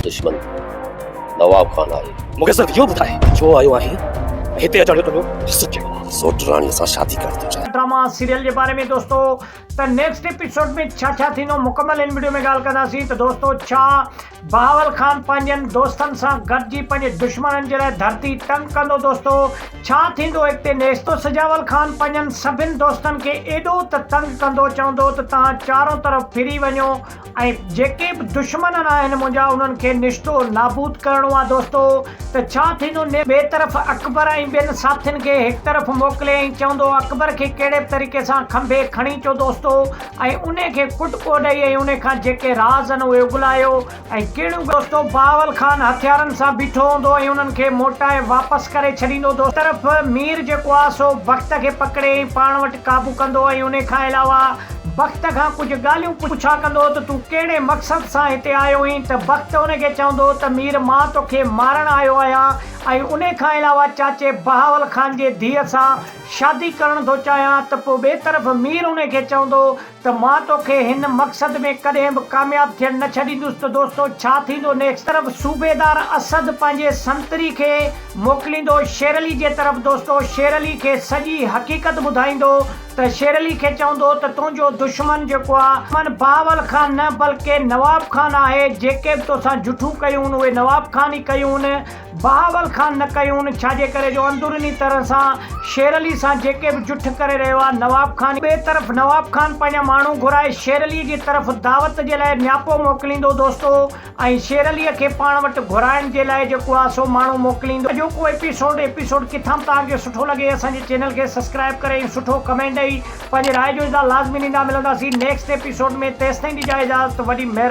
دشمن نواب خان آهي. مون کي صرف اهو ٻڌاء ڇو آيو آهين ۽ هتي اچڻ جو تنهنجو مقصد ڪهڙو آهي؟ سوٽ راڻي سان شادي ڪرڻ ٿو چاهيان. ڊراما سيريل جي باري ۾ دوستو ته نيڪسٽ ايپيسوڊ ۾ ڇا ڇا ٿيندو مڪمل ان وڊيو ۾ ڳالهه ڪنداسين ته دوستو ڇا بهاول خان پنهنجن دوستن سان گڏجي پنهنجي دشمنن جي لاء ڌرتي تنگ ڪندو دوستو ڇا ٿيندو اڳتي نيڪسٽ سجاول خان پنهنجن سڀن دوستن کي ايڏو ته تنگ ڪندو چوندو ته توهان چارون طرف ڦري وڃو ۽ جيڪي به دشمنن آهن منهنجا انهن کي نشتو نابود ڪرڻو آ دوستو ته ڇا ٿيندو نيب ٻي طرف اڪبر ۽ ٻين ساٿين کي هڪ طرف موڪلي ۽ چوندو اڪبر کي ڪهڙي به طريقي سان کنڀي کڻي چو دوستو ۽ انهي کي ڪٽڪو ڏئي ۽ انهي کان جيڪي راز آهن اهي اڳلايو ۽ ڪهڙيون دوستو بهاول خان هٿيارن سان بيٺو هوندو ۽ انهن کي موٽائي واپس ڪري ڇڏيندو دوستو هڪ طرف مير جيڪو آ سو بخت کي پڪڙي ۽ پاڻ وٽ قابو ڪندو ۽ انهي کان علاوه بخت کان ڪجهه ڳالهيون پڇا ڪندو ته تون ڪهڙي مقصد سان هتي آيو هئين ته بخت ان کي چوندو ته مير مان توکي مارڻ آيو آهيان ۽ انهي کان علاوه چاچي بهاول خان جي ڌيء سان شادي ڪرڻ ٿو چاهيان ته پوء ٻئي طرف مير انهي کي چوندو ته مان توکي هن مقصد ۾ ڪڏهن به ڪامياب ٿيڻ نه ڇڏيندس ته دوستو ڇا ٿيندو نيڪسٽ طرف صوبيدار اسد پنهنجي سنتري کي موڪليندو شيرعلي جي طرف دوستو شيرعلي کي سڄي حقيقت ٻڌائيندو. ته شيرعلي کي چوندو ته تنهنجو دشمن جيڪو آ من بهاول خان نه بلڪه نواب خان آهي جيڪي به توسان جٺيون ڪيون اهي نواب خان ئي ڪيون بهاول خان نه ڪيون ڇاجي ڪري جو اندروني طرح سان شيرعلي سان جيڪي به جٺ ڪري رهيو آ نواب خان ئي ٻئي طرف نواب خان پنهنجا ماڻهو گهرائي شيرعلي جي طرف دعوت جي لاء نياپو موڪليندو دوستو ۽ شيرعليء کي پاڻ وٽ گهرائڻ جي لاء جيڪو آ سو ماڻهو موڪليندو. اڄوڪو ايپيسوڊ ايپيسوڊ ڪٿان به توهان کي سٺو لڳي اسان جي چينل کي سسڪرائب ڪري ۽ سٺو ڪمينٽ ڏئي پنهنجي راء جو اظهار لازمي ڏيندا ملنداسين نيڪسٽ ايپيسوڊ ۾ تيستائين ڏجاء اجازت وڏي مهرباني.